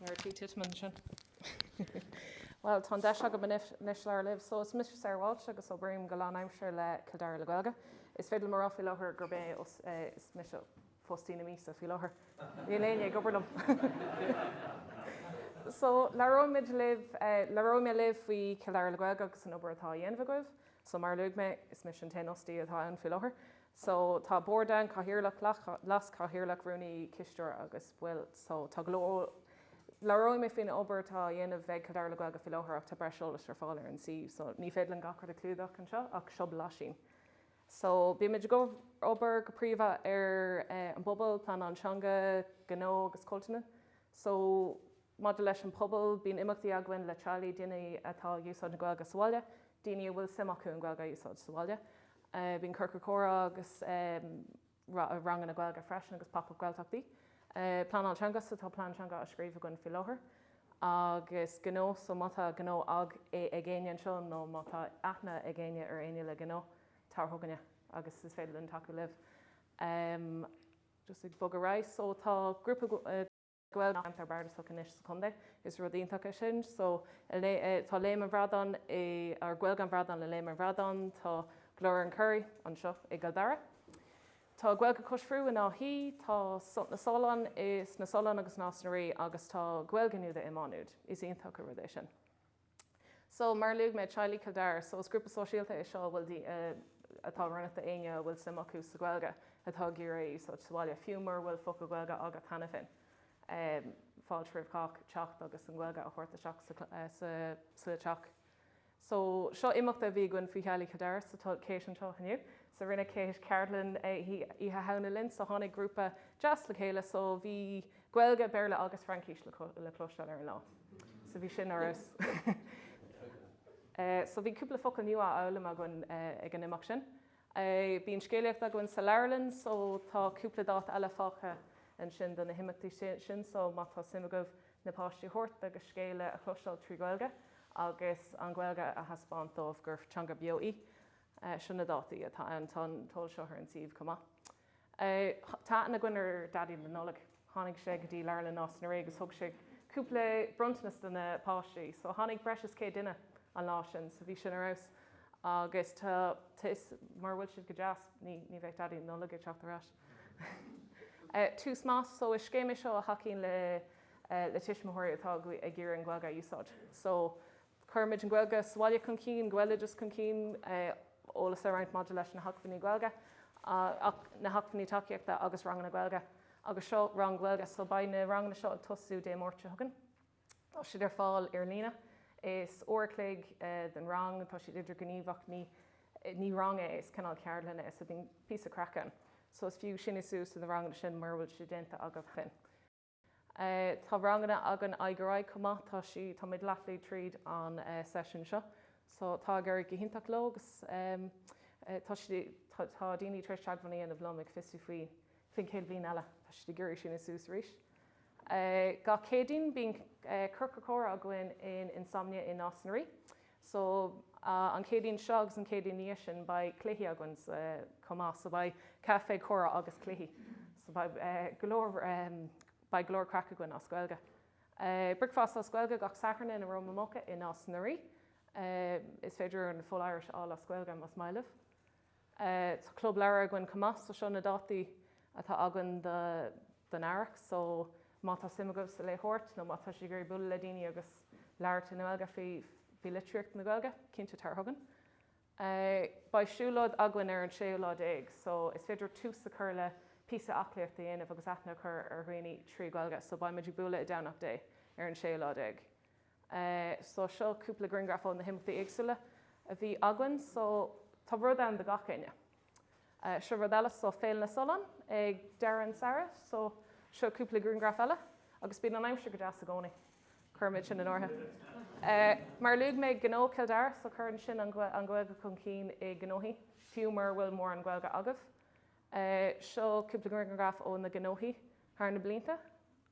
ar tí titim ansin. Well tá an deis agam anois labhairt libh, so is mise Sarah Walsh agus obraím go lánaimseartha le Cill Dara le Gaeilge. Is féidir liom a rá faoi láthair gurb é os é is mise fostaí na míosa faoi láthair. Níl éinne ag obair liom! So labhróidh muid libh labhróidh mé libh faoi Cill Dara le Gaeilge agus an obair atá á dhéanamh agaibh. So mar a luaigh mé, is mise an t-aon fhostaí atá ann faoi láthair. so tá bord ann, cathaoirleach, leaschathaoirleach, rúnaí, cisteoir agus baill so tá go leor Labhróidh mé faoin obair atá á dhéanamh ag Cill Dara le Gaeilge faoi láthair ach tá breis eolais ar fáil ar an suíomh so ní féidir linn gach rud a chlúdach anseo ach seo blaisín so bímid ag obair go príomha ar an bpobal, pleanáil teanga, gnó agus cultúr so maidir leis an bpobal bíonn imeachtaí againn le teaghlaigh, daoine atá ag úsáid na Gaeilge sa bhaile. daoine a bhfuil suim acu an Ghaeilge a úsáid sa bhaile. Bíonn ciorcal comhrá agus ranganna Gaeilge freisin agus Pop Up Gaeltachtaí. Pleanáil teanga so tá plean teanga á scríobh againn faoi láthair agus gnó so má tá gnó ag éinne anseo nó má tá aithne ag éinne ar éinne le gnó tar chugainne agus is féidir linn tacú libh. Just ag bogadh ar aghaidh so tá grúpa Gaeilge i ngach bardas anois sa chontae. Is rud iontach é sin. So tá Léim an Bhradáin i, or Gaeilge an Bhradáin i Léim an Bhradáin, tá Glór an Churraigh anseo i gCill Dara. Tá Gaeilge Cois Bearú in Áth Í, tá Sult na Sollán i, sna Solláin agus Nás na Rí agus tá Gaeilge Nuada i Má Nuad. Is iontach an rud é sin. So, mar a luaigh mé, teaghlaigh Chill Dara, so is grúpa sóisialta é seo a bhfuil atá oiriúnach d'éinne a bhfuil suim acu sa Ghaeilge atá ag iarraidh í a úsáid sa bhaile, fiú mura bhfuil focal Gaeilge agat cheana féin. fáilte roimh chách teacht agus an Ghaeilge a thabhairt isteach sa sa teach. So, seo imeacht a bhí againn do theaghlaigh Chill Dara sa Chéas anseo inniu. So, rinne Céas ceardlann oíche Shamhna linn so tháinig grúpa deas le chéile so bhí. Gaeilge, Béarla agus Fraincis le cloisteáil ar an lá. So bhí sin ar fheabhas. So bhí cúpla focal nua á fhoghlaim againn ag an imeacht sin. Bíonn scéalaíocht againn sa leabharlann so tá cúpla dáta eile fágtha ansin do na himeachtaí sin so má tá suim agaibh na páistí a thabhairt agus scéal a chloisteáil trí Ghaeilge agus an Ghaeilge a thaispeáint dóibh gur teanga beo í, seo na dátaí atá ann. Tá an t-eolas seo ar an suíomh chomh maith. Tá aithne againn ar Daidí na Nollag. Tháinig sé go dtí Leabharlann Nás na Rí agus thug sé cúpla bronntanas do na páistí. So tháinig breis is céad duine an lá sin, so bhí sin ar fheabhas. Agus tá, is, mura bhfuil siad go deas, ní, ní bheidh Daidí na Nollag ag teacht ar ais. Tús Maith, so is scéim é seo a thacaíonn le, le tuismitheoirí atá ag iarraidh an Ghaeilge a úsáid. So Cuirimid an Ghaeilge sa bhaile chun cinn, Gaeloideas chun cinn, eolas a roinnt maidir leis na hacmhainní Gaeilge, na hacmhainní tacaíochta agus ranganna Gaeilge. Agus seo rang Gaeilge. So beidh na ranganna seo ag tosú Dé Máirt seo chugainn. Tá siad ar fáil ar líne. Is uair a chloig den rang. Tá siad idirghníomhach. Ní rang é, is cineál ceardlann í so bíonn píosa craic ann. So is fiú siniú suas do na ranganna sin mura bhfuil siad déanta agaibh féin. Tá ranganna againn aghaidh ar aghaidh chomh maith. Tá sí, táimid leath bealaigh tríd an session seo. So tá ag éirí go hiontach leo agus tá siad, tá daoine tar éis teagmháil a dhéanamh liom ag fiosrú faoi, faoin chéad bhliain eile. Tá siad ag iarraidh siniú suas arís. Gach Céadaoin bíonn Ciorcal Comhrá againn in Insomnia in Nás na Ríogh. So, an Céadaoin seo agus an Céadaoin ina dhiaidh sin beidh cluichí againn chomh maith. So beidh caife, comhrá agus cluichí. So beidh go leor, beidh go leor craic againn as Gaeilge. Bricfeasta as Gaeilge gach Satharn in Aroma Mocha i Nás na Ríogh. Is féidir an full Irish a fháil as Gaeilge, más maith libh. Tá club leabhar againn chomh maith so seo na dátaí atá againn don earrach so má tá suim agaibh sa léitheoireacht nó má tá sibh ag iarraidh bualadh le daoine agus labhairt i nGaeilge faoi litríocht na Gaeilge, cinnte tar chugainn. Beidh siúlóid againn ar an séú lá déag so is féidir tús a chur le píosa aclaíocht a dhéanamh agus aithne a chur ar dhaoine trí Ghaeilge so beimid ag bualadh i nDomhnach Dheá ar an séú lá déag. So seo cúpla griangraf ó na himeachtaí éagsúla a bhí againn. So tá rud ann do gach éinne. Seo rud eile, so Féile na Solán ag deireadh an tsamhraidh. So seo cúpla griangraf eile agus bíonn an aimsir go deas i gcónaí. Cuirimid sin in áirithe. Mar a luaigh mé, Gnó Chill Dara, so cuireann sin an Ghaeilge chun cinn i ngnóthaí, fiú mura bhfuil mórán Gaeilge agaibh. Seo cúpla griangraf ó na gnóthaí. thar na blianta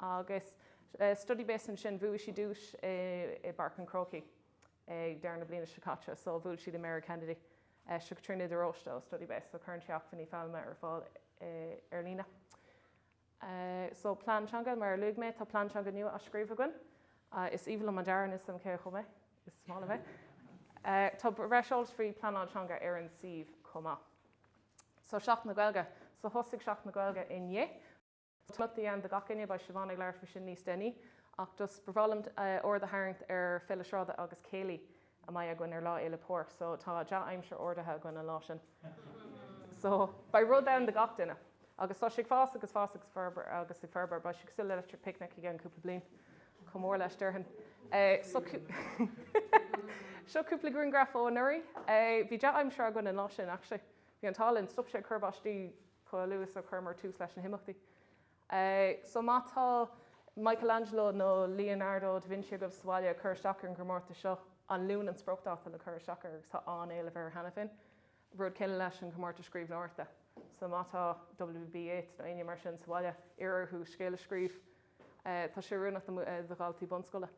agus Studybase ansin bhuaigh siad duais i bPáirc an Chrócaigh ag deireadh na bliana seo caite so bhuail siad le Mary Kennedy seo Caitríona de Róiste ó Studybase so cuireann sí acmhainní foghlama ar fáil ar líne so plean teanga mar a luaigh mé tá plean teanga nua á scríobh againn is aoibhinn liom an dearadh ansin chomh maith is maith liom é tá breis eolais faoi pleanáil teanga ar an suíomh chomh maith. So Seachtain na Gaeilge. So thosaigh Seachtain na Gaeilge inné. So tá imeachtaí ann do gach éinne. Beidh Siobhán ag labhairt faoi sin níos déanaí. Ach just ba bhreá liom aird a tharraingt ar Féile Sráide agus Céilí a mbeidh againn ar Lá Fhéile Pádraig. So tá dea-aimsir ordaithe againn an lá sin. So beidh rud ann do gach duine. Agus tá sé ag fás agus fás agus forbairt agus ag forbairt. Beidh sé cosúil le Electric Picnic i gceann cúpla bliain. Chomh mór leis, déarfainn. Seo cúpla grianghraf ó anuraidh. Bhí dea-aimsir againn an lá sin, actually. Bhí an t-ádh linn. Stop sé ag cur báistí chomh luath is a chuireamar tús leis na himeachtaí. So má tá Michelangelo nó Leonardo da Vinci agaibh sa bhaile ag cur isteach ar an gcomórtas seo, An Luan an spriocdáta le cur isteach air agus tá an-éileamh air cheana féin. Rud céanna leis an gcomórtas scríbhneoireachta. So má tá WB Yeats nó éinne mar sin sa bhaile, iarr orthu scéal a scríobh. Tá sé oiriúnach do dhaltaí bunscoile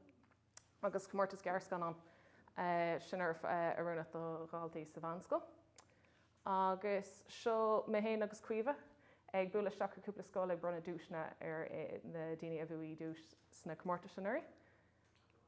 agus comórtas gearrscannán sin oiriúnach do dhaltaí sa mheánscoil. Agus seo mé féin agus Caoimhe ag bualadh isteach go cúpla scoil ag bronnadh duaiseanna ar na daoine a bhuaigh duais sna comórtais anuraidh.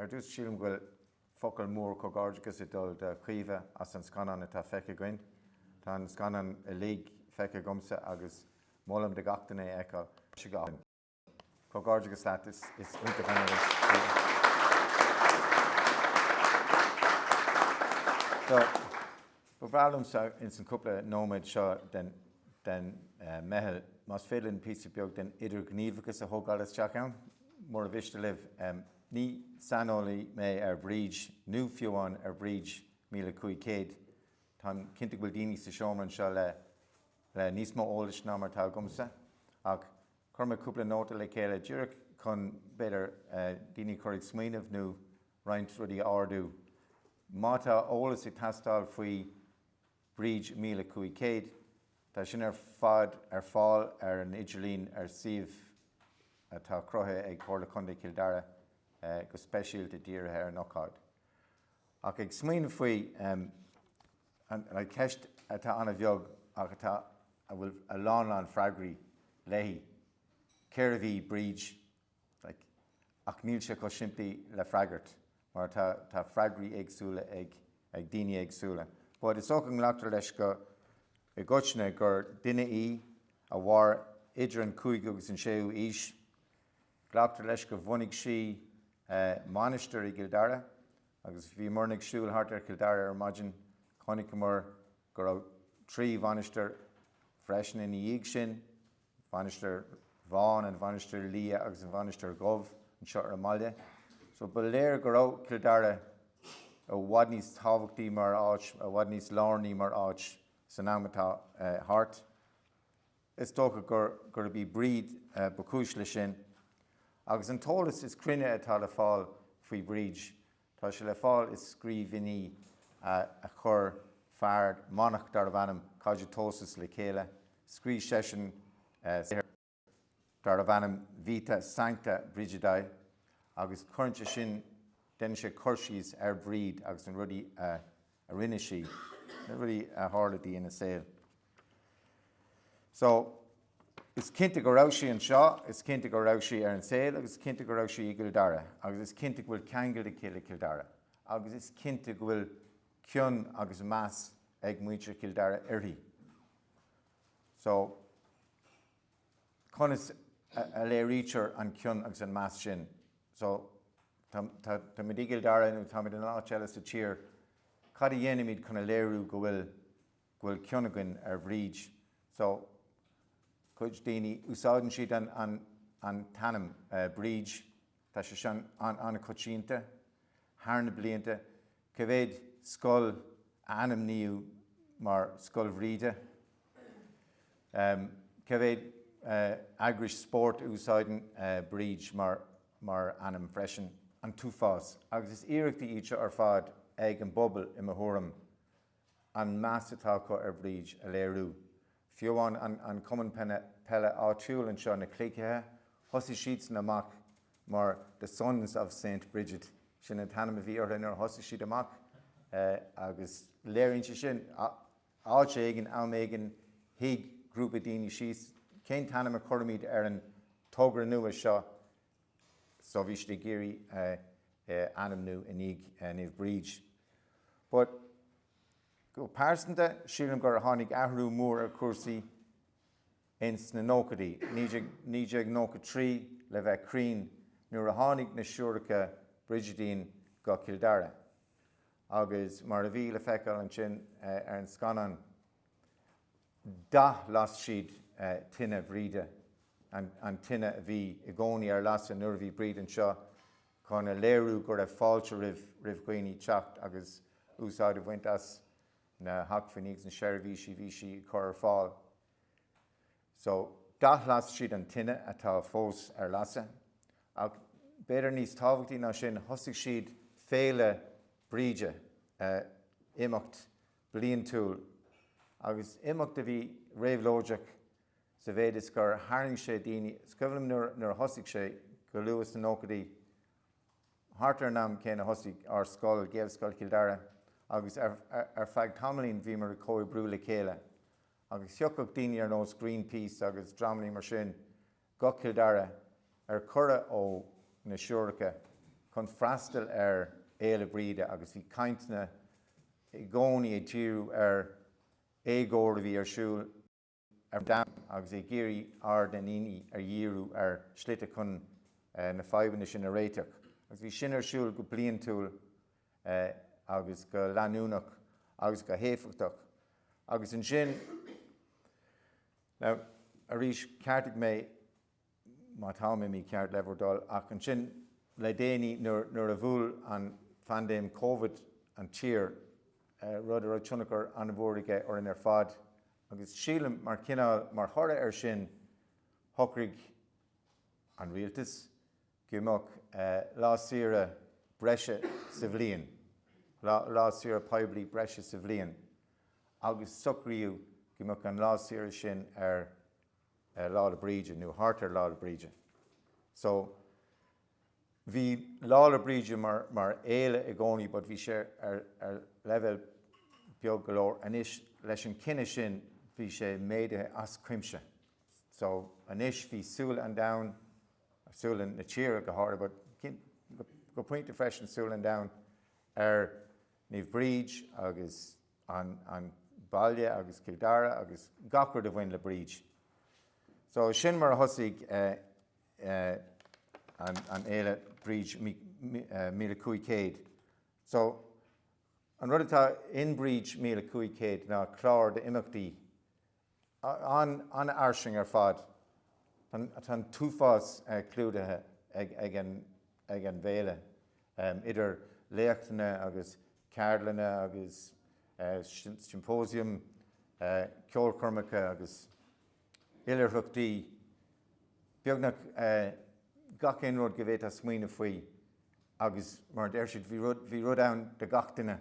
Ar dtús, sílim go bhfuil focal mór comhghairdeachais ag dul do Chaoimhe as an scannán atá feicthe againn. Tá an scannán uilig feicthe agamsa agus molaim do gach duine é a fheiceáil. Comhghairdeachas leat, is iontach an iris í. Ba bhreá liom ins an cúpla nóiméad seo den mheitheal más féidir linn píosa beag den idirghníomhachas a thógáil isteach ann. Murar mhiste libh, ní saineolaí mé ar Bhríd nó fiú amháin ar Bhríd Míle Cúig Céad. Táim cinnte go bhfuil daoine sa seomra anseo le níos mó eolais ná mar atá agamsa ach chuir mé cúpla nóta le chéile díreach chun b'fhéidir daoine a chur ag smaoineamh nó roinnt rudaí a ardú. Má tá eolas ag teastáil faoi Bríd 1500, tá sin ar fad ar fáil ar an idirlíon ar suíomh atá cruthaithe ag Comhairle Contae Chill Dara go speisialta dírithe ar an ócáid. Ach ag smaoineamh faoi an cheist atá an-bheag ach atá a bhfuil a lán lán freagraí léi, cérbh í Bríd? Ach níl sé chomh simplí le freagairt mar tá tá freagraí éagsúla ag ag daoine éagsúla. But is dócha go nglactar leis go i gcoitinne gur duine í a mhair idir an cúigiú agus an séú aois. Glactar leis gur bhunaigh sí mainistir i gCill Dara agus bhíomar ag siúl thart ar Chill Dara ar maidin chonaiceamar go raibh trí mhainistir freisin ina dhiaidh sin, Mhainistir Bhán, An Mhainistir Liath agus An Mhainistir Dhubh anseo ar an mbaile. So ba léir go raibh Cill Dara i bhfad níos tábhachtaí mar áit, i bhfad níos lárnaí mar áit san am atá thart. Is dócha gurb í Bríd ba chúis leis sin. Agus an t-eolas is cruinne atá le fáil faoi Bhríd, Tá sé le fáil i scríbhinní a chuir fear manach darbh ainm Cogitosus le chéile. Scríobh seisean darbh ainm Vita Sancta Brigidae agus cuireann sé sin, déanann sé cur síos ar Bhríd agus na rudaí a rinne sí, na rudaí a tharla di ina saol. So, is cinnte go raibh sí anseo, is cinnte go raibh sí ar an saol agus is cinnte go raibh sí i gCill Dara agus is cinnte go bhfuil ceangal aici le Cill Dara agus is cinnte go bhfuil cion agus meas ag muintir Chill Dara uirthi. So, conas a léirítear an cion agus an meas sin? So, táimid i gCill Dara nó táimid in áit eile sa tír, cad a dhéanaimid chun a léiriú go bhfuil go bhfuil cion againn ar Bhríd so cuid daoine úsáideann siad an an an t-ainm Bríd tá sé sin an an-choitianta thar na blianta cé mhéad scoil a ainmníodh mar Scoil Bhríde ehm cé mhéad eh eagrais spóirt a úsáideann eh Bríd mar mar ainm freisin an t-uafás agus is iarrachtaí iad seo ar fad ag an bpobal i mo thuairim an meas atá acu ar Bhríd a léiriú. Fiú amháin an cumann peile áitiúil anseo, na Cloigthithe, thosaigh siadsan amach mar The Sons of Saint Brigid. Sin an t-ainm a bhí orthu nuair a thosaigh siad amach agus léiríonn sé sin, áit éigin, am éigin, shuigh grúpa daoine síos, cén t-ainm a chuirfimid ar an togra nua seo so bhí siad ag iarraidh é a ainmniú i ndiaidh Naomh Bríd but go pearsanta sílim gur tháinig athrú mór ar chúrsaí ins na nóchaidí, 1993 le bheith cruinn, nuair a tháinig na siúracha Brigidín go Cill Dara agus mar a bhí le feiceáil ansin ar an scannán. d'athlas siad tine Bhríde, an tine a bhí i gcónaí ar lasadh nuair a bhí Bríd anseo chun a léiriú go raibh fáilte roimh dhaoine teacht agus úsáid a bhaint as na hacmhainní agus na seirbhísí a bhí sí ag cur ar fáil. So, d'athlas siad an tine atá fós ar lasadh ach b'fhéidir níos tábhachtaí ná sin thosaigh siad Féile Bríde, imeacht bliantúil agus imeacht a bhí réabhlóideach sa mhéid is gur tharraing sé daoine. Is cuimhin liom nuair a thosaigh sé go luath sna nóchaidí, thart ar an am céanna a thosaigh ár scoil, Gaelscoil Chill Dara, agus ar feadh tamaillín bhíomar ag comhoibriú le chéile agus thiocfadh daoine ar nós Greenpeace agus dreamanna mar sin go Cill Dara ar cuireadh ó na siúracha chun freastal ar Fhéile Bríde agus bhí cainteanna i gcónaí ag díriú ar éagóir a bhí ar siúl ar an domhan agus ag iarraidh aird na ndaoine a dhíriú ar shlite chun na fadhbanna sin a réiteach agus bhí sin ar siúl go bliantúil agus go leanúnach agus go héifeachtach agus ansin. Now, arís, ceartaigh mé, má táim mícheart, le bhur dtoil, ach ansin le déanaí nuair a bhuail an phaindéim Covid an tír, rud a raibh tionchar an-mhór aige orainn ar fad, agus sílim mar chineál, mar thoradh air sin, shocraigh an rialtas, go mbeadh lá saoire breise sa bhliain, lá saoire poiblí breise sa bhliain, agus socraíodh go mbeadh an lá saoire sin ar Lá 'le Bríde nó thart ar Lá 'le Bríde. So, bhí Lá 'le Bríde mar fhéile i gcónaí but bhí sé ar leibhéal beag go leor. Anois, leis an chinneadh sin, bhí sé méadaithe as cuimse. So, anois, bhí súile an domhain. súile na tíre go háirithe but go pointe freisin súile an domhain ar Naomh Bríd agus an an baile agus Cill Dara agus gach rud a bhain le Bríd. So sin mar a thosaigh an an fhéile Bríd míle cúig chéad. So an rud atá in Bríd míle cúig chéad ná clár d'imeachtaí an-fhairsing ar fad. Tá an t-uafás clúdaithe ag an bhféile, idir léachtanna agus ceardlanna agus siompóisiam, ceolchoirmeacha agus oilithreachtaí, beagnach gach aon rud go bhféadfá smaoineamh faoi agus mar a deir siad, bhí rud ann do gach duine.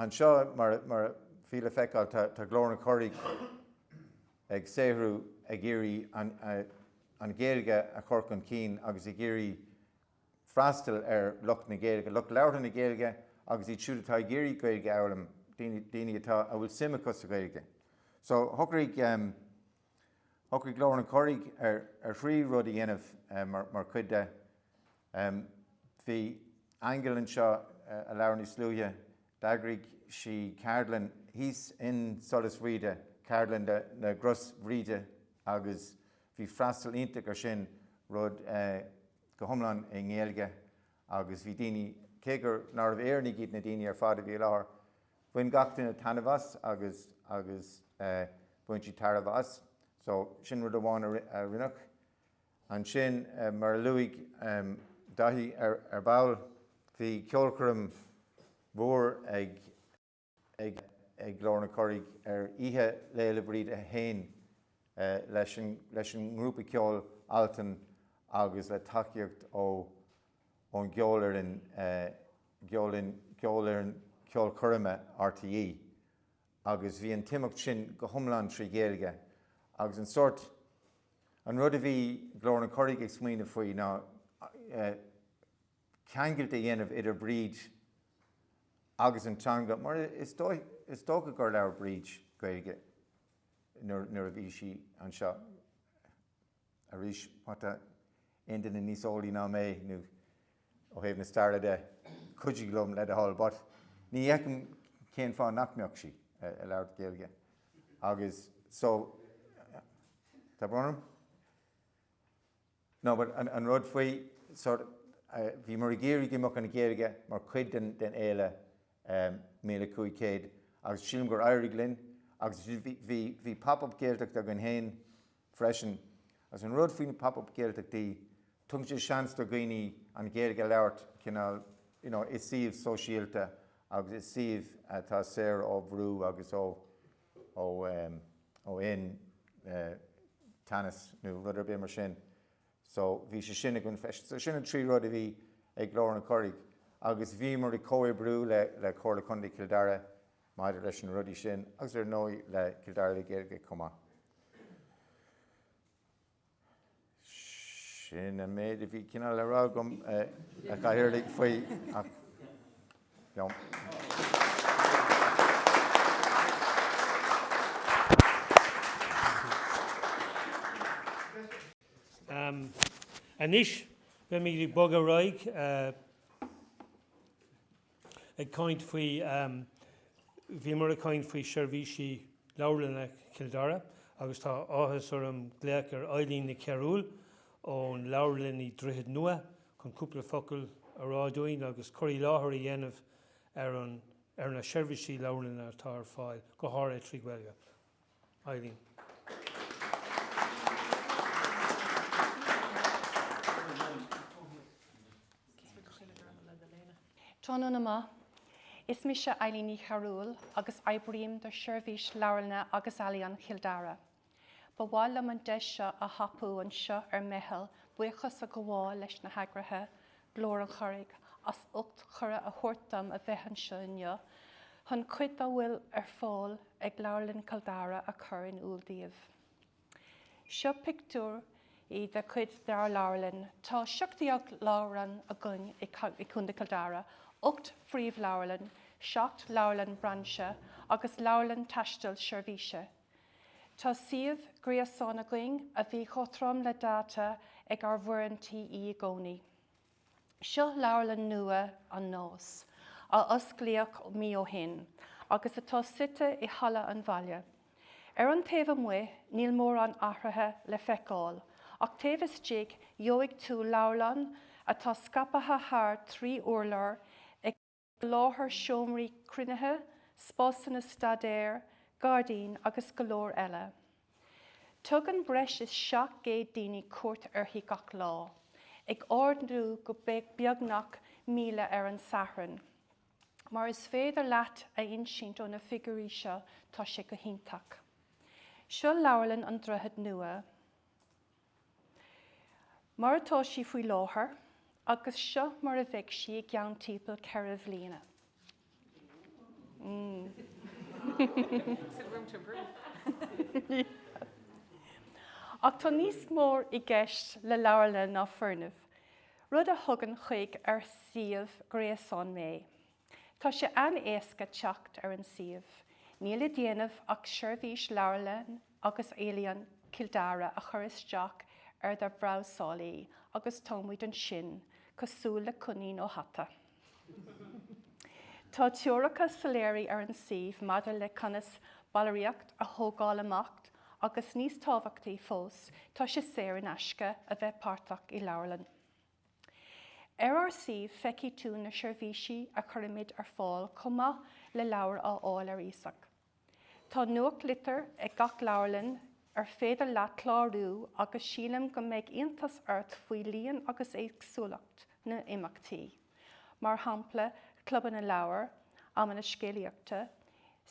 Anseo, mar a fuil le feiceáil, tá Glór an Churraigh ag saothrú ag iarraidh an Ghaeilge a chur chun cinn agus ag iarraidh freastal ar lucht na Gaeilge, lucht labhartha na Gaeilge agus iad siúd atá ag iarraidh Gaeilge a fhoghlaim, daoine atá a bhfuil suim acu sa Ghaeilge. So shocraigh. Shocraigh Glór an Churraigh ar thrí rud a dhéanamh mar chuid de. Bhí Aingeal anseo a labhair níos luaithe. D'eagraigh sí ceardlann thíos in Solas Bhríde, ceardlann na gCros Bhríde agus bhí freastal iontach ar sin, rud go hiomlán i nGaeilge agus bhí daoine, cé gur nárbh Éireannaigh iad na daoine ar fad a bhí i láthair, Bhain gach duine taitneamh as agus agus bhain siad tairbhe as. So, sin rud amháin a rinneadh. Ansin, mar a luaigh Daithí ar ball, bhí ceolchoirm mhór ag ag ag Glór an Churraigh ar oíche Lá Fhéile Bríde féin leis an leis an ngrúpa ceoil Altan agus le tacaíocht ó ón gceolfhoireann gceolfhoireann ceolchoirme RTÉ agus bhí an t-imeacht sin go hiomlán trí Ghaeilge agus an sórt, an rud a bhí Glór an Churraigh ag smaoineamh faoi ná ceangailt a dhéanamh idir Bríd agus an teanga mar is dócha gur labhair Bríd Gaeilge nuair a bhí sí anseo. Arís, má tá aon duine níos eolaí ná mé, nó ó thaobh na staire de, cuidigh liom le do thoil, but ní fheicim cén fáth nach mbeadh sí ag labhairt Gaeilge agus so tá brón orm no but an rud faoi sort bhíomar ag iarraidh go mbeadh an Ghaeilge mar chuid den den fhéile míle cúig chéad agus sílim gur éirigh linn agus bhí bhí bhí pop up Gaeltacht againn féin Freisin, agus an rud faoi na Pop Up Gaeltachtaí, tugann sé seans do dhaoine an Ghaeilge a labhairt cineál you know i suíomh sóisialta agus i suíomh atá saor ó bhrú agus ó ó em ó aon eh teannas nó rud ar bith mar sin. So bhí sé sin againn freisin. So sin an trí rud a bhí ag Glór an Churraigh agus bhíomar ag comhoibriú le le Comhairle Contae Chill Dara, Maidir leis na rudaí sin, agus ar ndóigh le Cill Dara le Gaeilge chomh maith, sin an méid a bhí cineál le rá agam, a Chathaoirligh, faoi ach, you know. Anois beimid ag bogadh ar aghaidh. Ag caint faoi, Bhíomar ag caint faoi seirbhísí Leabharlanna Chill Dara agus tá áthas orm glaoch ar Eileen Ní Chearúil ón Leabharlann i Droichead Nua chun cúpla focal a rá dúinn agus cur i láthair a dhéanamh ar na seirbhísí leabharlainne atá ar fáil go háirithe trí Ghaeilge. Eileen. Tráthnóna maith. Is mise Eileen Ní Chearúil agus oibrím do Sheirbhís Leabharlainne agus Ealaíon Chill Dara. Ba mhaith liom an deis seo a thapú anseo ar Meitheal buíochas a ghabháil leis na heagraithe, Glór an Churraigh as ucht cuireadh a thabhairt dom a bheith anseo inniu chun cuid a bhfuil ar fáil ag Leabharlann Chill Dara a chur in iúl daoibh. Seo pictiúir de chuid dár leabharlann. Tá seacht déag leabharlann againn i gCo. Chill Dara, ocht bpríomhleabharlann, seacht leabharlann brainse agus leabharlann taistil seirbhíse. Tá suíomh gréasáin againn a bhíonn cothrom le dáta ag ár bhfoireann TF i gcónaí. Seo leabharlann nua an Náis, a osclaíodh mí ó shin agus atá suite i Halla an Bhaile. Ar an taobh amuigh níl mórán athraithe le feiceáil, ach taobh istigh gheobhaidh tú leabharlann atá scaipthe thar trí urlár, ag Soláthar, seomraí cruinnithe, spásanna staidéir, gairdín agus go leor eile. Tugann breis is 700 daoine cuairt uirthi gach lá, ag ardú go beagnach 1,000 ar an Satharn. Mar is féidir leat a insint ó na figiúirí seo, tá sé go hiontach. Seo Leabharlann an Droichid Nua. mar atá sí faoi láthair agus seo mar a bheidh sí i gceann timpeall ceithre bhliana. Ach tá níos mór i gceist le leabharlanna ná foirnimh, rud a thugann chuig ár suíomh gréasáin mé. Tá sé an-éasca teacht ar an suíomh. Níl le déanamh ach seirbhís Leabharlann agus Ealaíon Chill Dara a chur isteach ar do bhrabhsálaí agus táimid ansin, cosúil le coinín ó hata! Tá treoracha soiléire ar an suíomh maidir le conas ballraíocht a thógáil amach agus níos tábhachtaí fós, tá sé saor in aisce a bheith páirteach i leabharlann. Ar ár suíomh feicfidh tú na seirbhísí a chuirimid ar fáil chomh maith le leabhair á fháil ar iasacht. Tá nuachtlitir ag gach leabharlann ar féidir leat clárú agus sílim go mbeidh iontas ort faoi líon agus éagsúlacht na n-imeachtaí, mar shampla clubanna leabhar, amanna scéalaíochta,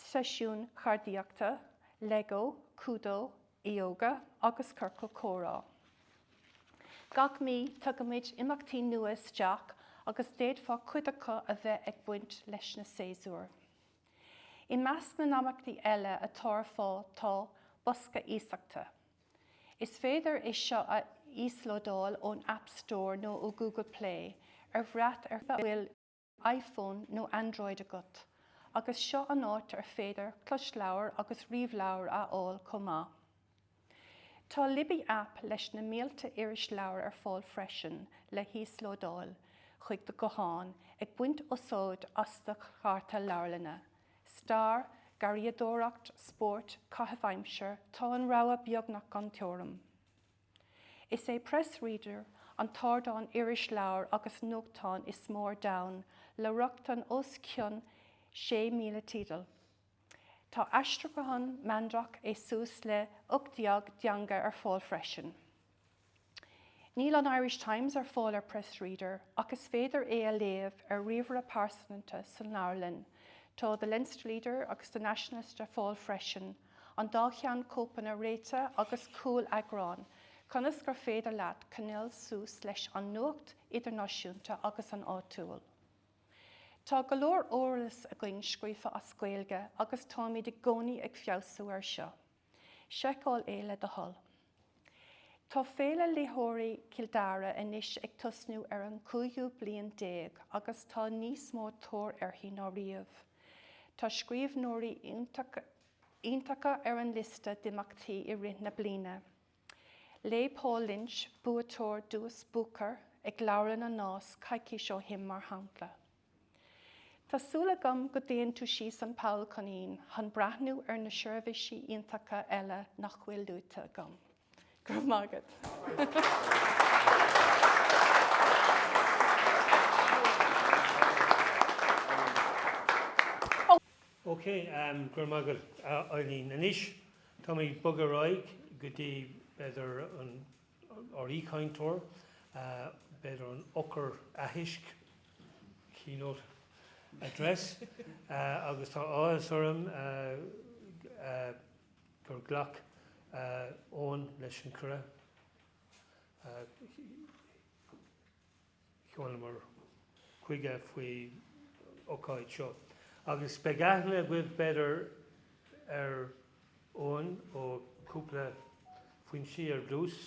seisiúin cheardaíochta, Lego, códú, Ióga agus ciorcail chomhrá. Gach mí, tugaimid imeachtaí nua isteach agus d'fhéadfadh cuid acu a bheith ag baint leis na séasúir. I measc na n-imeachtaí eile atá ar fáil tá, Bosca Iasachta. Is féidir é seo a íoslódáil ón App Store nó ó Google Play ag brath ar a bhfuil iPhone nó Android agat, agus seo an áit ar féidir closleabhair agus ríomhleabhair a fháil chomh maith. Tá Libby App leis na mílte irisleabhar ar fáil freisin le híoslódáil chuig do ghuthán ag baint úsáid as do chárta leabharlainne. Stair, garraíodóireacht, spóirt, caitheamh aimsire, tá an rogha beagnach gan teorainn. Is é Press Reader an t-ardán irisleabhar agus nuachtáin is mó ar domhan le rochtain os cionn 6,000 teideal. Tá aistriúchán meandrach i suas le 18 dteanga ar fáil freisin. Níl an Irish Times ar fáil ar Press Reader ach is féidir é a léamh ar ríomhaire pearsanta san leabharlann. Tá The Leinster Leader agus The Nationalist ar fáil freisin. an dá cheann cóipeanna réitigh agus cúl-eagráin, ionas gur féidir leat coinneáil suas leis an nuacht idirnáisiúnta agus an áitiúil. Tá go leor eolas againn scríofa as Gaeilge agus táimid i gcónaí ag feabhsú air seo. Seiceáil é le do thoil. Tá Féile Léitheoirí Chill Dara anois ag tosnú ar an chúigiú bliain déag agus tá níos mó tóir uirthi ná riamh. Tá scríbhneoirí iontacha ar an liosta d'imeachtaí i rith na bliana. Léigh Paul Lynch, buaiteoir Duais Booker, ag Leabharlann an Nás coicís ó shin, mar shampla. Tá súil agam go dtéann tú síos an Poll Coinín chun breathnú ar na seirbhísí iontacha eile nach bhfuil luaite agam. Go raibh maith agat! Ok, go raibh maith agat a Eileen. Anois, táimid ag bogadh ar aghaidh go dtí, b'fhéidir, an. Ár aoichainteoir, b'fhéidir an eochair aithisc, keynote address, agus tá áthas orm gur ghlac Eoin leis an cuireadh. Chuamar chuige faoin ócáid seo agus beidh aithne agaibh b'fhéidir ar Eoghan ó cúpla foinsí ar dtús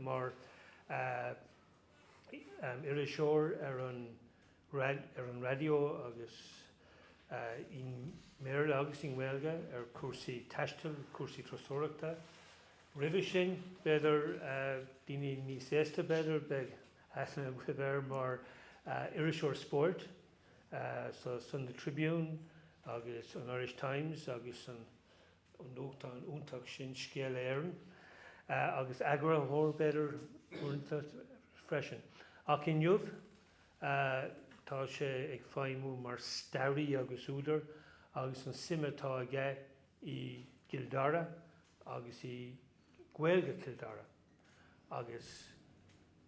mar iriseoir ar an raidió agus i mBéarla agus i nGaeilge ar cúrsaí taistil, cúrsaí turasóireachta. Roimhe sin b'fhéidir daoine níos aosta b'fhéidir beidh Aithne agat air mar iriseoir spóirt sa Sunday Tribune agus an Irish Times agus san nuachtán iontach sin Scéala Éireann, agus eagarthóir, b'fhéidir, uaireanta freisin. Ach inniu tá sé ag feidhmiú mar stairí agus údar agus an tsuim atá aige i gCill Dara agus i Gaeilge Chill Dara. Agus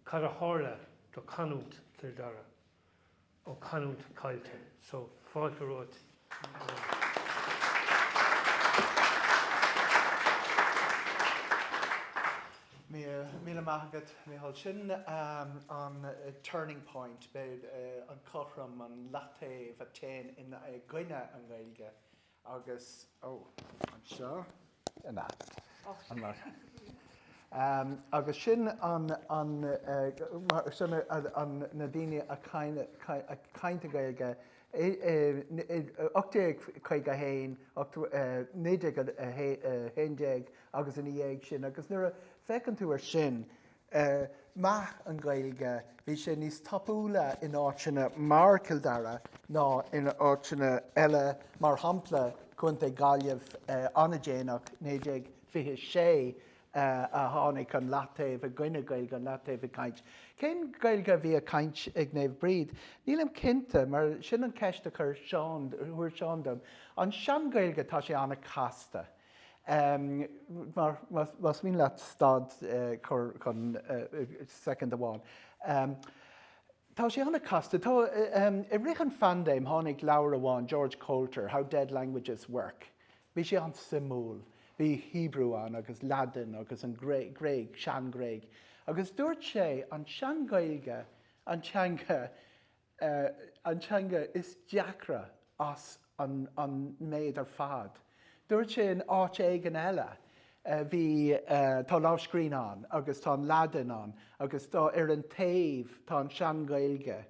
cad a tharla do canúint Chill Dara? Ó, canúint caillte. So, fáilte romhat Míle, míle maith agat Mícheál. Sin an turning point, an cothrom, an leataobh a téann i gcoinne an Ghaeilge Agus, ó, anseo. Na. Agus sin an, an, sin an, na daoine a caint, ag caint Gaeilge i, i, i, 1851, ocht, 1911 agus ina dhiaidh sin. Agus nuair a, féachann tú ar sin, ar mheath an Ghaeilge, bhí sé níos tapúla in áiteanna mar Cill Dara ná in áiteanna eile, mar shampla Contae na Gaillimhe an-déanach 1926 a tháinig an leataobh i gcoinne Gaeilge an leataobh ag caint. Cén Gaeilge a bhí ag caint ag Naomh Bríd? Nílim cinnte mar sin an ceist a chuir Seán, a chuir Seán dom. An sean-Ghaeilge tá sé an-chasta. Más mian leat stad chun soicind amháin. Tá sé an-chasta. Tá i rith an phaindéim tháinig leabhar amach George Coulter How Dead Languages Work. Bhí sé an-suimiúil. Bhí Hebrew ann agus Laidin agus an Gréig, Sean-Ghréig. Agus dúirt sé an Sean-Ghaeilge an teanga an teanga is deacra as an méid ar fad. Dúirt sé in áit éigin eile, bhí, tá lámhscríbhinn ann agus tá an Laidin ann agus tá, ar an taobh, tá an sean-Ghaeilge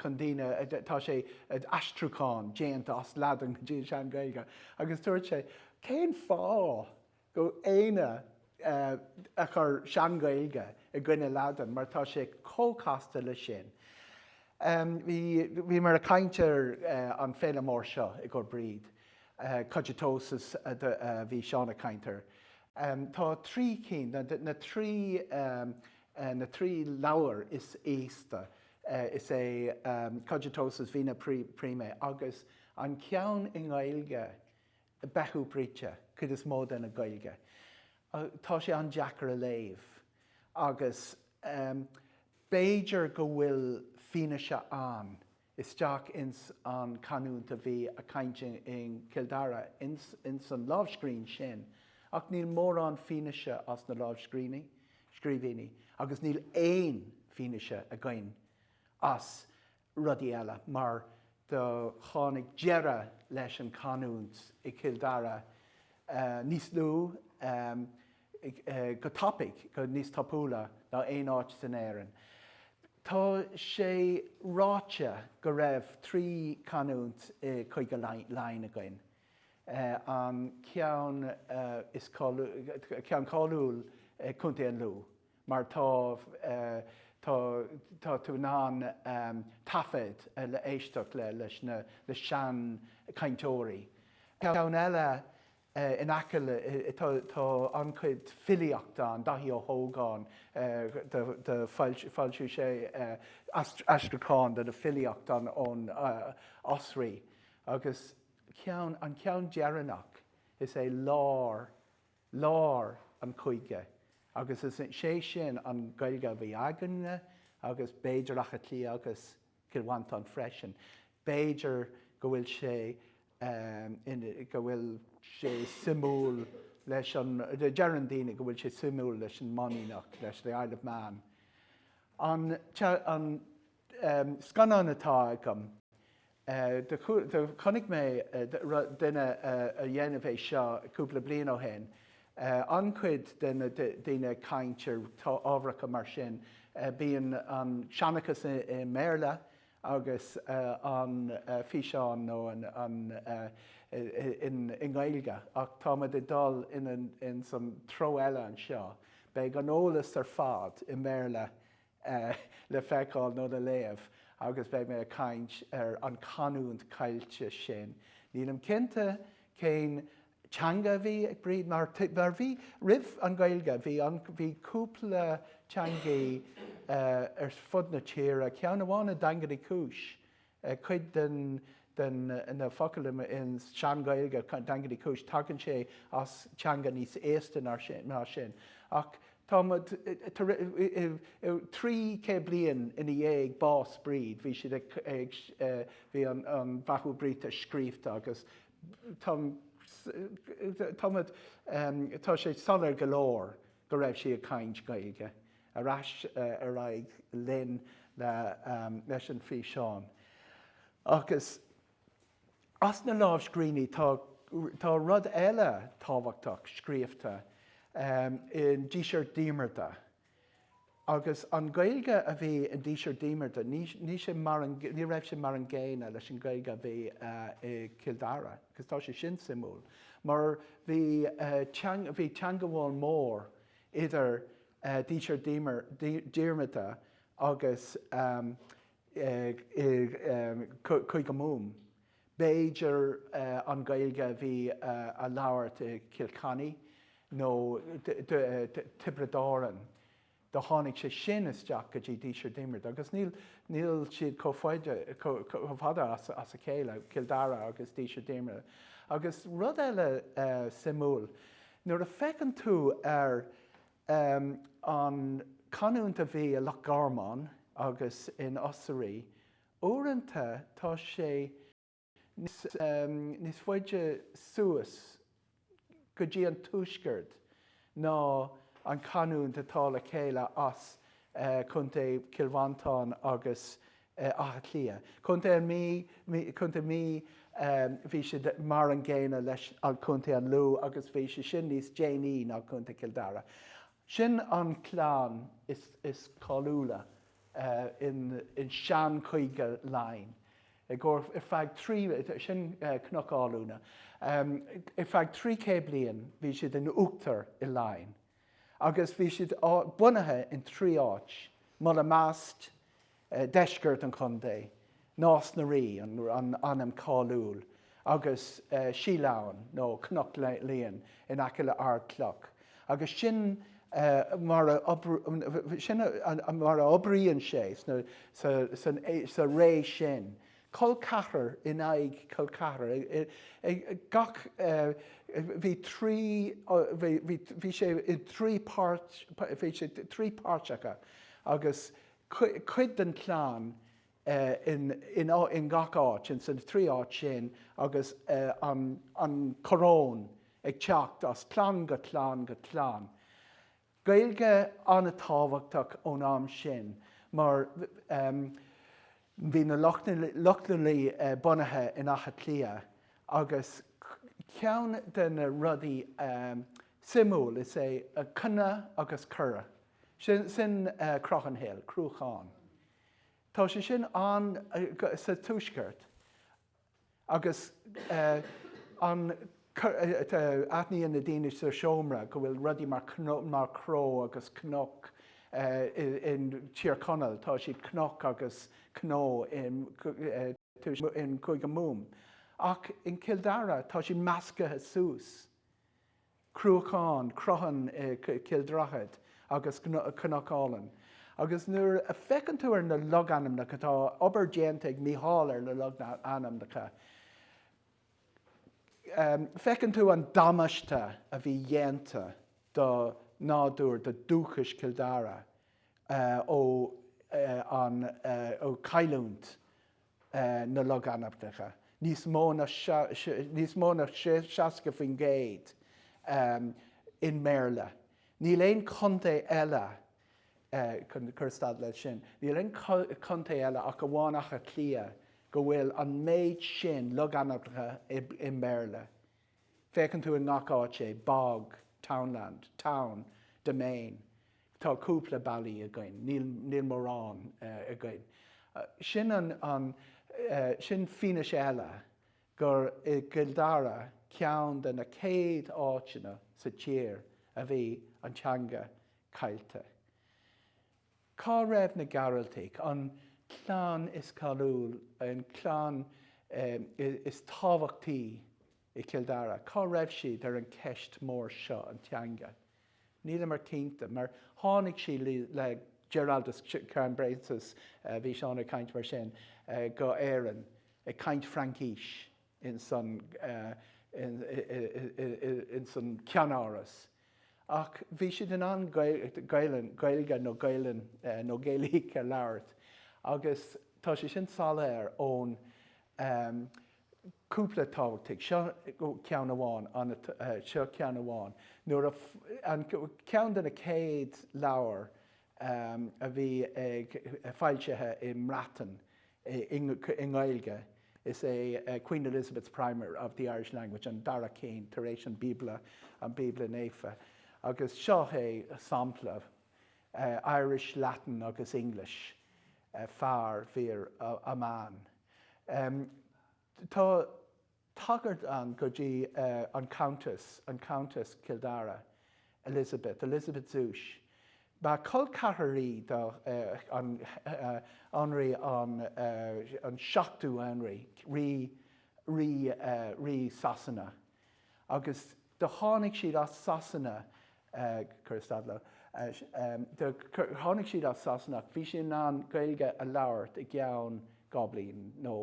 chun daoine, tá sé, aistriúchán déanta as Laidin go dtí an sean-Ghaeilge. Agus dúirt sé, cén fáth go éinne a chur sean-Ghaeilge i gcoinne Laidin mar tá sé chomh casta leis sin. bhí bhíomar ag caint ar an féile mór seo i gcomhair Bríd. Cogitosus bhí Seán ag caint air. tá trí cinn na trí na trí leabhar is aosta is é Cogitosus Vita Prima agus an ceann i nGaeilge Bethu Brigte, cuid is mó de na Gaeilge. Tá sé an-deacair a léamh agus b'fhéidir go bhfuil fianaise ann isteach ins an canúint a bhí a caint i gCill Dara ins an lámhscrín sin ach níl mórán fianaise as na lámhscríbhinní agus níl aon fianaise againn as rudaí eile, mar do tháinig deireadh leis an canúint i gCill Dara níos lú, go tapaidh, go níos tapúla ná aon áit san Éirinn. Tá sé ráite go raibh trí canúint i gCúige Laighean againn, an ceann is ceann cáiliúil, Contae an Lú, mar tá tá tá tú in ann taifead le éisteacht le leis na le sean cainteoirí ceann eile in aice le tá tá an-chuid filíocht ann Daithí Ó hÓgáin do do foilsiú foilsiú sé aistriúchán de na filíochta ón Osraí agus ceann an ceann deireanach is é lár lár an chúige agus is é sin an Ghaeilge a bhí againn-ne agus b'fhéidir Átha Cliath agus Cill Mhantáin freisin. B'fhéidir go bhfuil sé in, go bhfuil sé cosúil leis an, deireann daoine go bhfuil sé cosúil leis an Manannach, leis the Isle of Man. An, an. Scannán atá agam. Do chonaic mé duine a dhéanamh é seo cúpla bliain ó shin. An-chuid de na daoine ag caint ar ábharacha mar sin. Bíonn an seanchas i mBéarla agus an físeán nó an i nGaeilge ach táimid ag dul in san treo eile anseo. Beidh an eolas ar fad i mBéarla le feiceáil nó le léamh agus beidh mé ag caint ar an canúint caillte sin. Nílim cinnte cén teanga a bhí ag Bríd mar bhí, roimh an Ghaeilge, bhí an, bhí cúpla teangaí ar fud na tíre, ceann amháin i nDaingean Uí Chúis, Cuid den na focail i Sean-Ghaeilge, Daingean Uí Chúis, tagann sé as teanga níos aosta ná sin. Ach tá trí céad bliain ina dhiaidh bás Bríd, bhí siad ag, bhí an Bethu Brigte scríobhta agus tá, tá sé soiléir go leor go raibh sí ag caint Gaeilge. Ar ais ar aghaidh linn leis an bhfíseán. Agus as na lámhscríbhinní, tá rud eile tábhachtach scríofa i nDíseart Diarmada. Agus an Ghaeilge a bhí i nDíseart Diarmada, ní raibh sé mar an gcéanna leis an Ghaeilge a bhí i gCill Dara. Agus tá sé sin suimiúil, mar bhí teagmháil mhór idir Díseart Diarmada agus Cúige Mumhan, b'fhéidir, an Ghaeilge a bhí á labhairt i Cill Chainnigh nó Tiobraid Árann. Do tháinig sé sin isteach go dtí Díseart Diarmada agus níl siad chomh fada as a chéile, Cill Dara agus Díseart Diarmada. Agus rud eile suimiúil, Nuair a féachann tú ar an chanúint a bhí i Loch Garman agus in Osraí, uaireanta tá sé níos faide suas go dtí an tuaisceart ná an chanúint atá le chéile as contae Chill Mhantáin agus Átha Cliath. Contae an Mí, Contae Mí bhí siad mar an gcéanna leis an Contae an Lú agus bhí sé sin níos déanaí ná Contae Cill Dara. Sin an clann is cáiliúla in seanchúige Laighean. I gcomhair ar feadh trí, sin Cnoc Alúine, ar feadh trí chéad bliain bhí siad in uachtar i Laighin. agus bhí siad bunaithe in trí áit, Mullaghmast, deisceart an chontae, Nás na Rí, an ainm cáiliúil, agus Sídh Leamhain, nó Cnoc Liain, in aice le Ardclough, agus sin mar a oibríonn sé sa ré sin. col ceathrar in aghaidh col ceathrar ag gach bhí trí bhí bhí sé i dtrí páirt bhí sé trí páirteacha agus cuid den chlann in in in gach áit in san trí áit sin agus an an choróin ag teacht as clann go clann go clann Gaeilge an-tábhachtach ón am sin mar bhí na Lochlannaigh bunaithe in Átha Cliath agus ceann de na rudaí suimiúil is é cna agus cra, sin Croghan Hill, Cruachán. Tá sé sin an, sa tuaisceart, Agus an aithníonn na daoine sa seomra go bhfuil rudaí mar cnó agus cnoc in Tír Chonaill, tá siad cnoc agus cnó i gCúige Mumhan, ach in Cill Dara tá siad meascaithe suas. Cruachán, Croghan, Cill Droichead agus Cnoc Álainn. Agus nuair a féachann tú ar na logainmneacha, tá obair déanta ag Meitheal ar na logainmneacha, feiceann tú an damáiste a bhí dhéanta do nádúr, do dúchas Chill Dara ó an cailliúint na logainmneacha, níos mó ná níos mó ná 60% i mBéarla. Níl aon chontae eile chusad le sin. Níl aon chontae eile ach amháin Átha Cliath go bhfuil an méid sin logainmneacha i mBéarla. Feiceann tú i ngach áit é, bog, townland, town, demesne. Tá cúpla bailí againn, níl mórán againn. Sin an, sin fianaise eile gur i gCill Dara, ceann de na céad áiteanna sa tír a bhí an teanga caillte. Cá raibh na Gearaltaigh, an chlann is cáiliúil, an chlann is tábhachtaí i Cill Dara, cá raibh siad ar an cheist mór seo, an teanga? Níleamar cinnte, mar tháinig siad le Giraldus Cambrensis, bhí Seán ag caint mar sin, go Éireann, ag caint Fraincis. ins an ceannáras ach bhí siad in ann Gaelainn, Gaeilge nó Gaelainn nó Gaeilic a labhairt agus tá sé sin soiléir ón cúpla tábhachtaigh, seo ceann amháin, seo ceann amháin, nuair a, an ceann de na céad leabhair um a bhí ag foilsithe i mBreatain i nGaeilge is é Queen Elizabeth's Primer of the Irish Language an dara ceann tar éis an Bíobla, an Bíobla Naofa. Agus seo é sampla, Irish, Latin agus English, fear, vir, a man. um Tá. tagairt ann go dtí an Countess, an Countess Chill Dara, Elizabeth, Elizabeth Zouche. Ba col ceathrar í do Anraí an 7ú Henry, rí, rí, rí Sasana agus. Do tháinig siad as Sasana, cuir stad leo, do tháinig siad as Sasana ach bhí siad in ann Gaeilge a labhairt i gceann dhá bhliain nó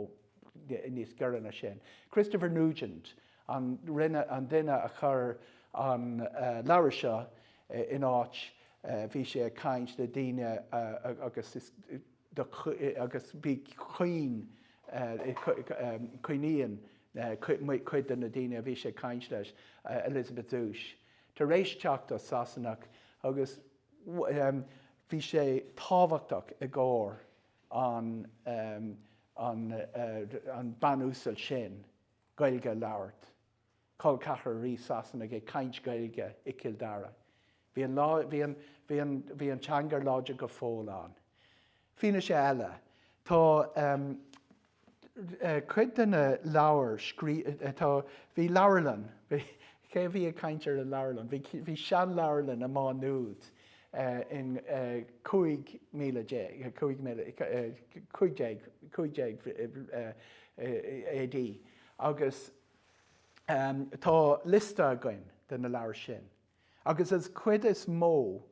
níos giorra ná sin. Christopher Nugent an rinne, an duine a chur an leabhar seo in áit, bhí sé ag caint le daoine agus agus bhí coinníonn cuid de na daoine a bhí sé ag caint leis Elizabeth Zouche tar éis teacht as Sasana agus bhí sé tábhachtach i gcomhair an an an Bean Uasal sin Gaeilge a labhairt. col ceathrar rí Shasana ag caint Gaeilge i Cill Dara. Bhí an lá, bhí an, bhí an, bhí an teanga láidir go fóill ann. Fianaise eile, tá ehm, eh, cuid de na leabhair scrí, eh, tá, bhí leabharlann, bhí, cé a bhí ag caint ar an leabharlann? Bhí, bhí seanleabharlann i Má Nuad eh, in eh, cúig míle déag, eh, cúig míle, eh, cúig déag, cúig déag eh, eh, AD agus, Tá liosta againn de na leabhair sin agus is cuid is mó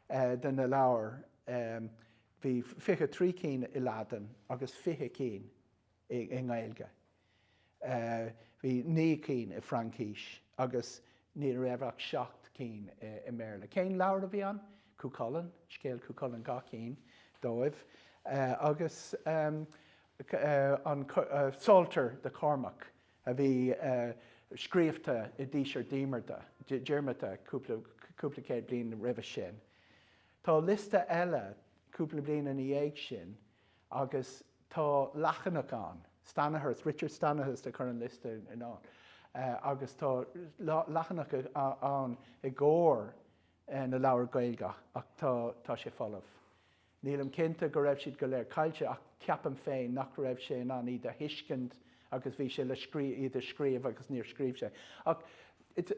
de na leabhair bhí fiche trí cinn i Laidin agus fiche cinn i nGaeilge. Bhí naoi cinn i Fraincis agus ní raibh ach seacht cinn i mBéarla. Cén leabhar a bhí ann? Cú Chulainn, scéal Chú Chulainn dhá cinn dóibh agus. an Psalter de Chormac a bhí scríobhta i Díseart Diarmada cúpla céad bliain roimhe sin. Tá liosta eile cúpla bliain ina dhiaidh sin agus tá leathanach ann, Stanihurst, Richard Stanihurst a chuir an liosta in ann agus tá leathanach ann i gcomhair na leabhar Gaeilge ach tá sé folamh. Nílim cinnte go raibh siad go léir caillte ach ceapaim féin nach raibh sé in ann iad a thuiscint agus bhí sé le iad a scríobh agus níor scríobh sé ach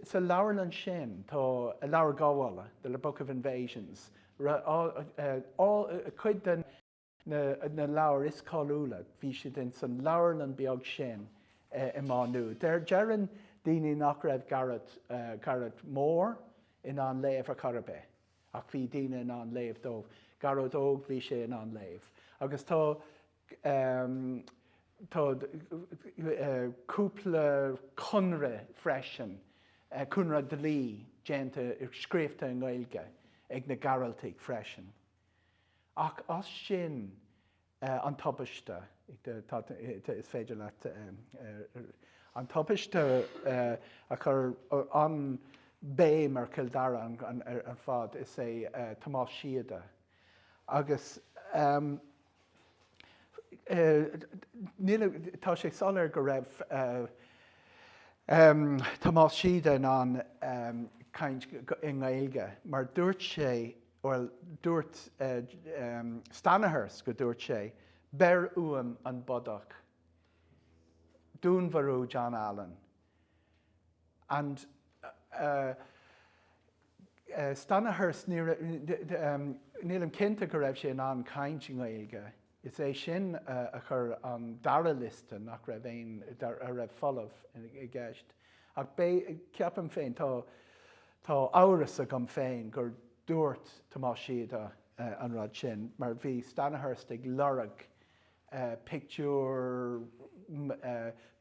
sa leabharlann sin tá an Leabhar Gabhála, The Book of Invasions, cuid de na leabhair is cáiliúla bhí siad insan leabharlann beag sin i Má Nuad. Deireann daoine nach raibh Garret Mór in ann léamh ar chor ar bith. Ach bhí daoine in ann léamh dó. Garret Óg, bhí sé in ann léamh. Agus tá, tá cúpla conradh freisin, conradh dlí déanta, scríobhta i nGaeilge ag na Gearaltaigh freisin. Ach as sin, Eh, an tubaiste. Eh, tá, eh, is féidir leat, eh, an tubaiste, eh, a chur an béim ar Chill Dara an, an, ar, ar fad. Is é, eh, Tomás Síoda. Agus, em, eh, níl a, tá sé soiléir go raibh, eh, em, Tomás Síoda in ann, em, caint i nGaeilge mar dúirt sé, Bhuel, dúirt Stanihurst go dúirt sé, beir uaim an bodach, dúnmharú John Allen. And Stanihurst, nílim cinnte go raibh sé in ann caint i nGaeilge. is é sin a chur an dara liosta nach raibh aon, a raibh folamh i gceist ach ceapaim féin, tá, tá amhras agam féin gur dúirt Tomás Síoda an rud sin mar bhí Stanihurst ag lorg pictiúr,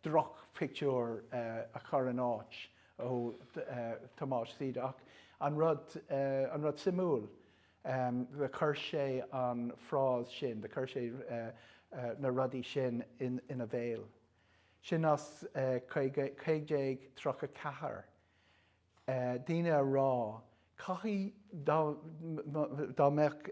drochphictiúr a chur in áit ó Tomás Síoda ach an rud, an rud suimiúil, Do chuir sé an phrás sin, do chuir sé na rudaí sin ina bhéal. Sin as 1534. Duine a rá, caithfidh, dá mbeadh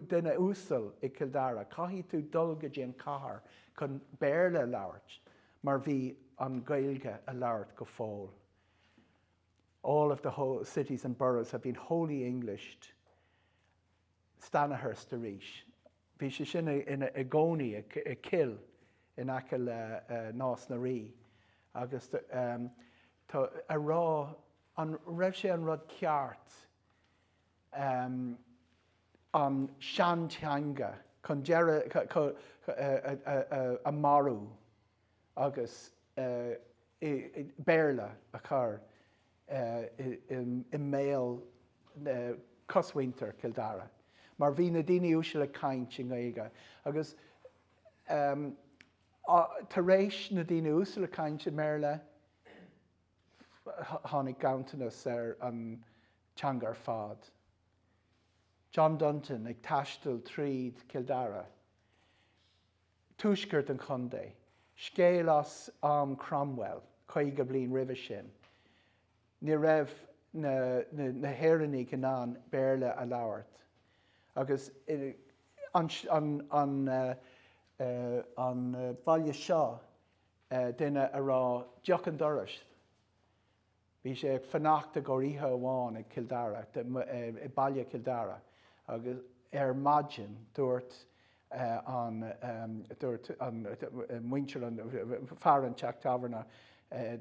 duine uasal i gCill Dara, caithfidh tú dul go dtí an cathair chun Béarla a labhairt mar bhí an Gaeilge á labhairt go fóill. All of the whole cities and boroughs have been wholly englished'. Stanihurst arís. Bhí sé sin ina gcónaí i Kill in aice le Nás na Rí agus tá a rá an raibh sé an rud ceart an seanteanga chun deireadh a marú. agus Béarla a chur i mbéal cosmhuintir Chill Dara mar bhí na daoine uaisle ag caint i nGaeilge agus tar éis na daoine uaisle ag caint i mBéarla tháinig ganntanas ar an teanga ar fad. John Dunton ag taisteal tríd Chill Dara. tuaisceart an chontae, scéal as am Cromwell, caoga bliain roimhe sin, ní raibh na hÉireannaigh in ann Béarla a labhairt agus an baile seo duine a rá deoch an dorais Bhí sé fanacht i gcomhair oíche amháin ag Cill Dara, i baile Chill Dara, agus ar maidin dúirt an, dúirt an, muintir an, fear an teach tábhairne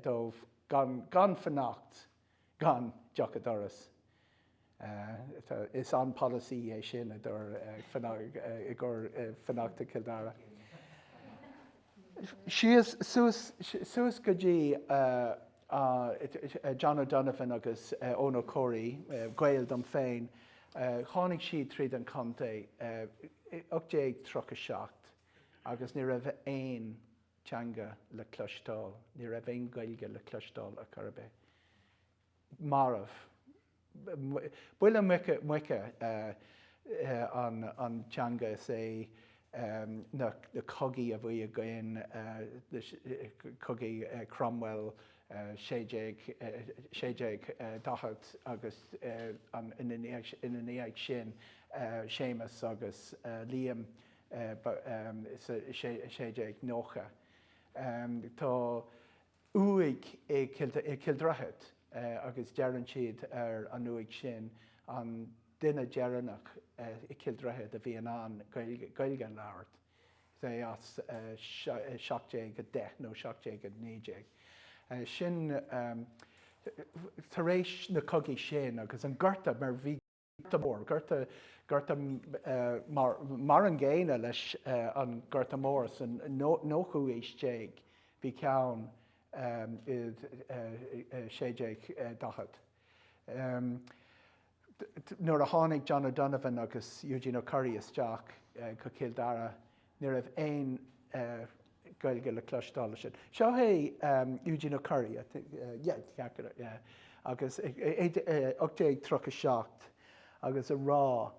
dó gan, gan fanacht, gan deoch a doras. Is an-pholasaí é sin, i gcomhair fanacht i Cill Dara. Síos suas go dtí John O'Donovan agus Eoghan Ó Comhraí, gaol dom féin, tháinig siad tríd an chontae i 1837 agus ní raibh aon teanga le cloisteáil, ní raibh aon Ghaeilge le cloisteáil ar chor ar bith. marbh. Buille muice an teanga is é na cogaí a bhí againn, cogaí Cromwell 1640 agus ina ndiaidh sin Séamus agus Liam 1690. Tá. uaigh i Cill Droichead agus deireann siad ar an uaigh sin an duine deireanach i Cill Droichead a bhí in ann Gaeilge a labhairt is é as 1710 nó 1719. Sin tar éis na cogaí sin agus an gorta mar bhí Gorta Mór, Gorta, Gorta Mór Mar an gcéanna leis an nGorta Mór sa nóchú aois déag bhí ceann i 1640 nuair a tháinig John O'Donovan agus Eugene O'Curry isteach go Cill Dara Ní raibh aon Gaeilge le cloisteáil ansin. Seo é Eugene O'Curry, I think, yeah, cheart go raibh, yeah, agus 1837 agus ag rá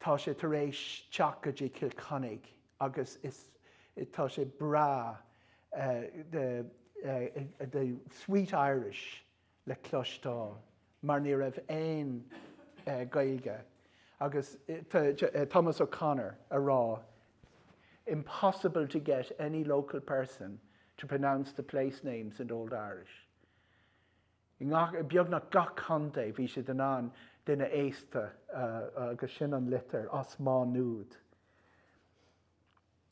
tá sé tar éis teacht go dtí Cill Chainnigh agus tá sé breá, the sweet Irish. le cloisteáil mar ní raibh aon Gaeilge agus Thomas O'Connor ag rá impossible to get any local person to pronounce the place names in Old Irish. I ngach, beagnach gach contae bhí siad in ann duine aosta a agus sin an litir as Má Nuad.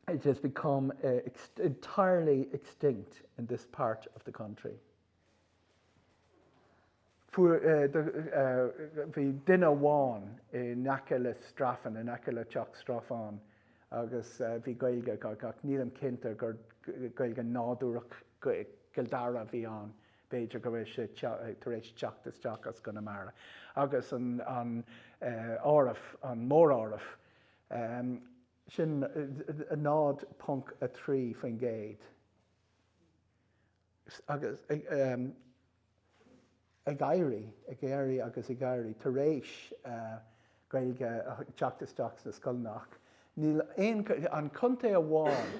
It has become entirely extinct in this part of the country. bhí duine amháin i n-aice le Straffan, in aice le teach Straffán agus bhí Gaeilge ach nílim cinnte gur Gaeilge nádúrach Chill Dara a bhí ann, b'fhéidir go bhfuil sé tar éis teacht isteach as Conamara agus an áireamh, an móráireamh sin 0.3%. agus ag éirí, ag éirí agus ag éirí tar éis Gaeilge a theacht isteach sna scoileanna ach níl, an contae amháin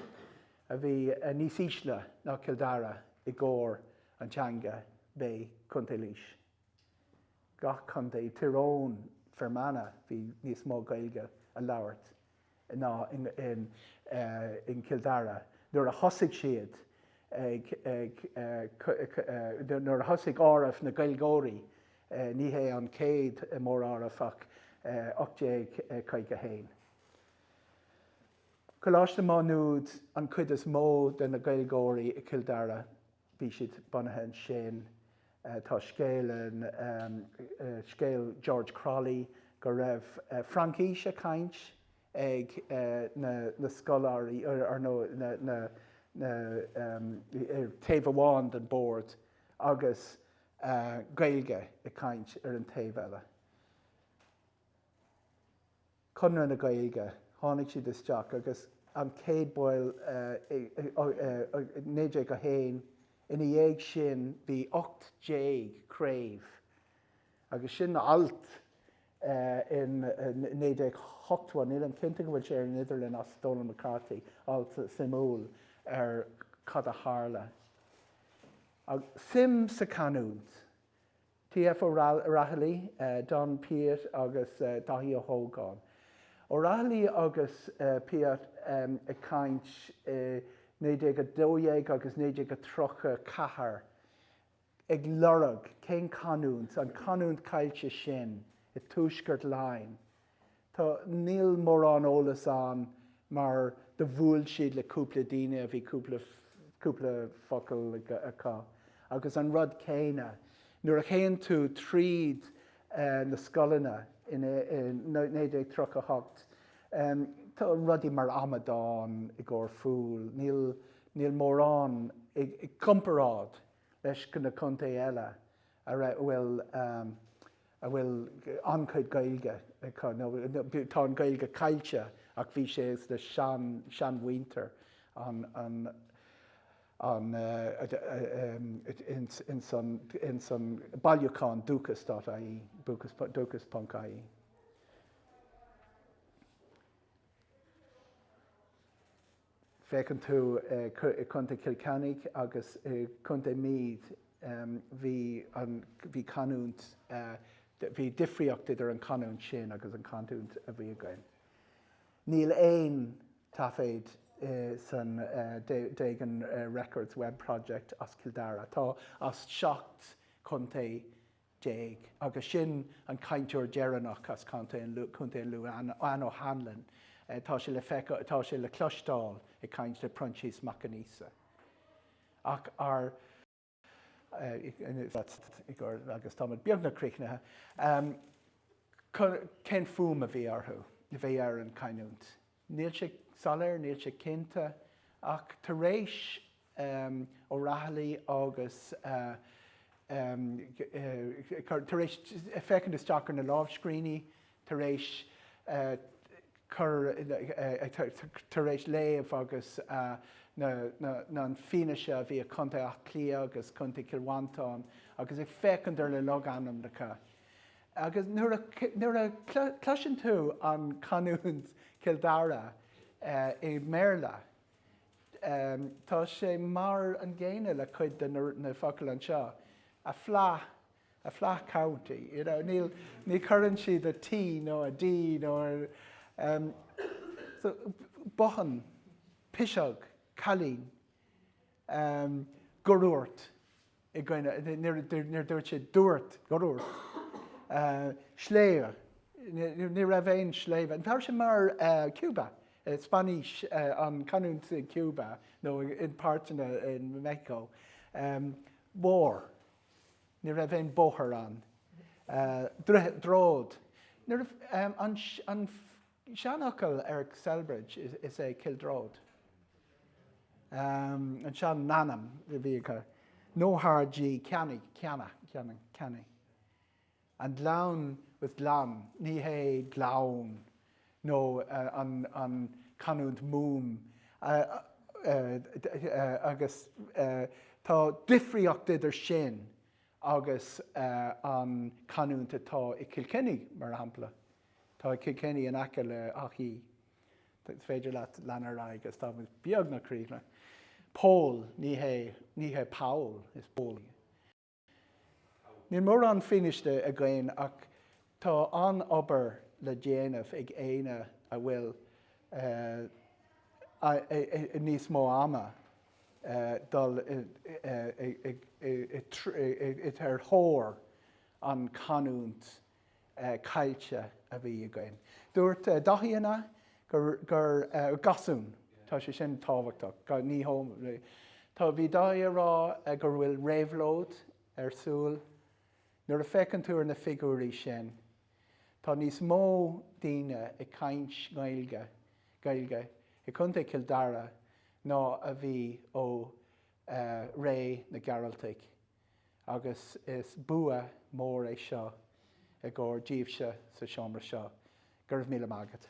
a bhí níos ísle ná Cill Dara i gcomhair an teanga b'é Contae Laois. Gach contae, Tír Eoghain, Fermanagh, bhí níos mó Gaeilge a labhairt. ná in Cill Dara nuair a thosaigh siad nuair a thosaigh áireamh na Gaeilgeoirí, ní hé an chéad móráireamh ach 1851. Coláiste Má Nuad an chuid is mó de na Gaeilgeoirí i Cill Dara. bhí siad bunaithe ansin. Tá scéal, scéal George Crolly, go raibh Fraincis a chaint ag na scoláirí or no na taobh amháin den bord agus Gaeilge a chaint ar an taobh eile. Conradh na Gaeilge, tháinig siad isteach agus an chéad bhaill i 1901, ina dhiaidh sin bhí ocht déag craobh agus sin alt i 1980, nílim cinnte go bhfuil sé ar an idirlíon as Donal McCarthy, alt suimiúil ar cad a tharla. Suim sa canúint. TF O'Rahilly, Donn Piatt agus Daithí Ó hÓgáin. O'Rahilly agus Piatt ag caint i 1912 agus 1934 ag lorg cén canúint, an chanúint chaillte sin i dtuaisceart Laighean, Tá, níl mórán eolas ann mar do bhuail siad le cúpla daoine a bhí cúpla focal acu agus an rud céanna nuair a théann tú tríd na scoileanna i 1938, tá rudaí mar amadán i gcomhair fool, níl mórán i gcomparáid leis na contaetha eile ar a bhfuil a bhfuil an-chuid Gaeilge acu nó tá an Ghaeilge caillte ach bhí sé leis na sean seanmhuintir an an an ins an ins an bailiúchán dúchas dot IE dúchas dúchas ponc IE. féachann tú i Contae Chill Chainnigh agus i gContae Meath bhí an, bhí canúint, bhí difríocht idir an canúint sin agus an canúint a bhí againn. Níl aon taiféad san Doegen Records Web Project as Cill Dara. Tá as seacht chontae déag, agus sin an cainteoir deireanach as Contae an Lú, Contae an Lú, Anne O'Hanlon. Tá sé le feiceáil, tá sé le cloisteáil ag caint le Proinsias Mac Aonghusa. Ach ar, agus táimid beagnach críochnaithe, cén fuaim a bhí orthu, a bhí ar an canúint? Níl sé soiléir, níl sé cinnte, ach tar éis O'Rahilly agus tar éis féachaint isteach ar na lámhscríbhinní, tar éis cur, tar éis léamh agus na fianaise a bhí ag Contae Áth Cliath agus Contae Chill Mhantáin agus ag féachaint ar na logainmneacha, Agus nuair a cloiseann tú an canúint Chill Dara i mBéarla, tá sé mar an gcéanna le cuid de na focail anseo, a flat, a flat county, you know, níl, ní chuireann siad a T nó a D nó a, so, bothán, piseog, cailín, go ndúirt. i gcoinne, níor dúirt sé dúirt, dhúirt, sléibhe, ní raibh aon sléibhe, tá sé mar Cuba, Spáinnis, an canúint i Cuba nó i páirteanna in Mexico, bóthar, ní raibh aon bóthar ann, droichead, an Seanfhocal ar Celbridge is é Kildrought. An sean n-ainm a bhí acu. No hard G, Ceannaí, Ceanna, Ceannaí, Ceannaí. An gleann was glan, ní hé gleann nó an canúint Mumhan agus tá difríocht idir sin agus an canúint atá i Kilkenny, mar shampla. Tá Kilkenny in aice le Achí. Is féidir leat lean ar aghaidh agus tá muid beagnach críochnaithe. Pól, Ní hé, ní hé Paul, is Pól. Níl mórán fianaise againn ach tá an-obair le déanamh ag éinne a bhfuil níos mó ama dul sa tóir ar an canúint caillte a bhí againn. Dúirt Dáithí an ea? gur gasún. Tá sé sin tábhachtach. Ní Tá bhí Dáithí a rá go bhfuil réabhlóid ar siúl. Nuair a féachann tú ar na figiúirí sin tá níos mó daoine ag caint Gaeilge Gaeilge i Contae Chill Dara ná a bhí ó ré na Gearaltaigh. agus is bua mór é seo i gcomhair díbhse sa seomra seo. Go raibh míle maith agat.